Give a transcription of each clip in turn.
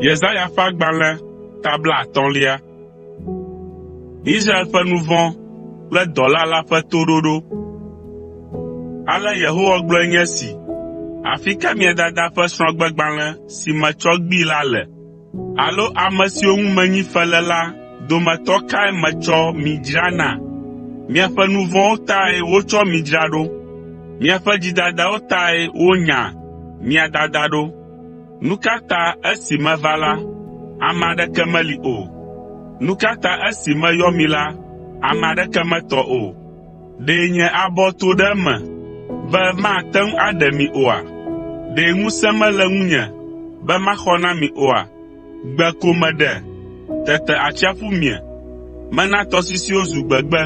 Yesaya ƒe agbalẽ ta blaatɔ̃lia. Israel ƒe nu vɔ̃ kple dɔla la ƒe toɖoɖo. Ale Yehowa gblɔe nye esi, “Afi ka mia dada ƒe srɔ̃gbegbalẽ si metsɔ gbee la le?” Alo ame siwo ŋu menyi fe le la dometɔ kae metsɔ mi dzra na? Miaƒe nu vɔ̃wo tae wotsɔ mi dzra ɖo. Miaƒe dzidadawo tae wonya mia dada ɖo. Nu ka ta esi meva la, ame aɖeke meli o? Nu ka ta esi meyɔ mi la, ame aɖeke metɔ o? Ɖe nye abɔ to ɖe eme be mate ŋu aɖe mi oa? Ɖe ŋusẽ mele ŋunye be maxɔ na mi oa? Gbe ko meɖe, tete atsiaƒu mie. Mena tɔsisiwo zu gbegbe,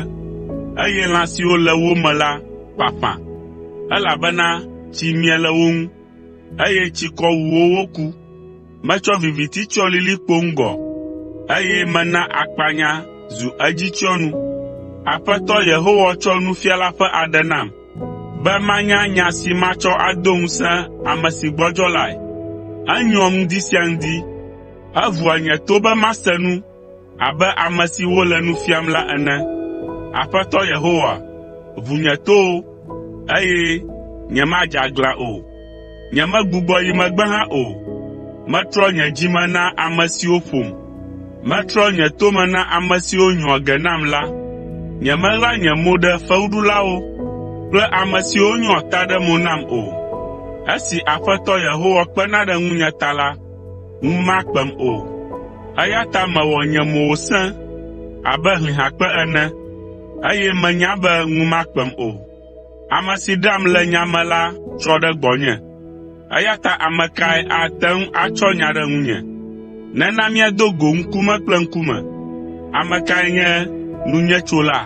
eye lã siwo le wo me la ƒaƒã, elabena tsi mie le wo ŋu, eye tsikɔ wu wo woku. Metsɔ viviti tsyɔ lilikpo ŋgɔ, eye mena akpanya zu edzitsyɔnu. Aƒetɔ Yehowa tsɔ nufiala ƒe aɖe nam, be manya nya si matsɔ ado ŋusẽ ame si gbɔdzɔ lae. Enyoa ŋdi sia ŋdi, evua nye to be mase nu Abe ame si wole nu fiam la ene. Aƒetɔ Yehowa, ʋu nye towo, eye nyemadze aglã o. Nyemegbugbɔ yi megbe hã o. Metrɔ nye dzi me na ame siwo ƒom. Metrɔ nye to me na ame siwo nyɔa ge nam la. Nyemeɣla nye mo ɖe fewuɖulawo kple ame siwo nyɔa ta ɖe mo nam o. Esi Aƒetɔ Yehowa kpena ɖe ŋunye ta la, ŋu makpem o, eya ta mewɔ nye mo wòsẽ abe hlihakpe ene, eye menya be ŋu makpem o. Ame si ɖeam le nya me la trɔ ɖe gbɔnye, eya ta ame kae ate ŋu atsɔ nya ɖe ŋunye? Nena míado go ŋkume kple ŋkume. Ame kae nye nunyetsola?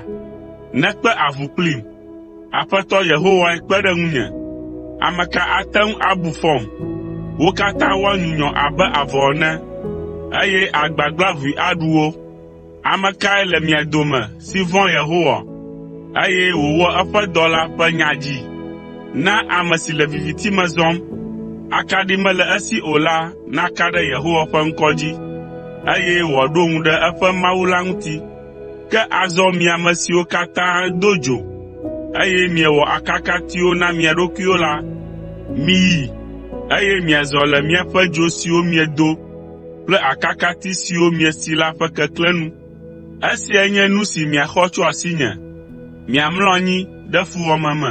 Nekpe avu kplim. Aƒetɔ Yehowae kpe ɖe ŋunye. Ame ka ate ŋu abu fɔm? Wo katã woanyunyɔ abe avɔ ene, eye agbagba ʋui aɖu wo. Ame kae le mia dome si vɔ̃a Yehowa, eye wòwɔa eƒe dɔla ƒe nya dzi? Na ame si le viviti me zɔm, akaɖi mele esi o la naka ɖe Yehowa ƒe ŋkɔ dzi, eye wòaɖo ŋu ɖe eƒe Mawu la ŋuti. Ke azɔ mi ame siwo katã do dzo, eye miewɔ akakatiwo na mia ɖokuiwo la, miyi, eye miazɔ le miaƒe dzo siwo miedo kple akakati siwo miesi la ƒe keklẽ nu. Esiae nye nu si miaxɔ tso asinye, miamlɔ anyi ɖe fuwɔame me.”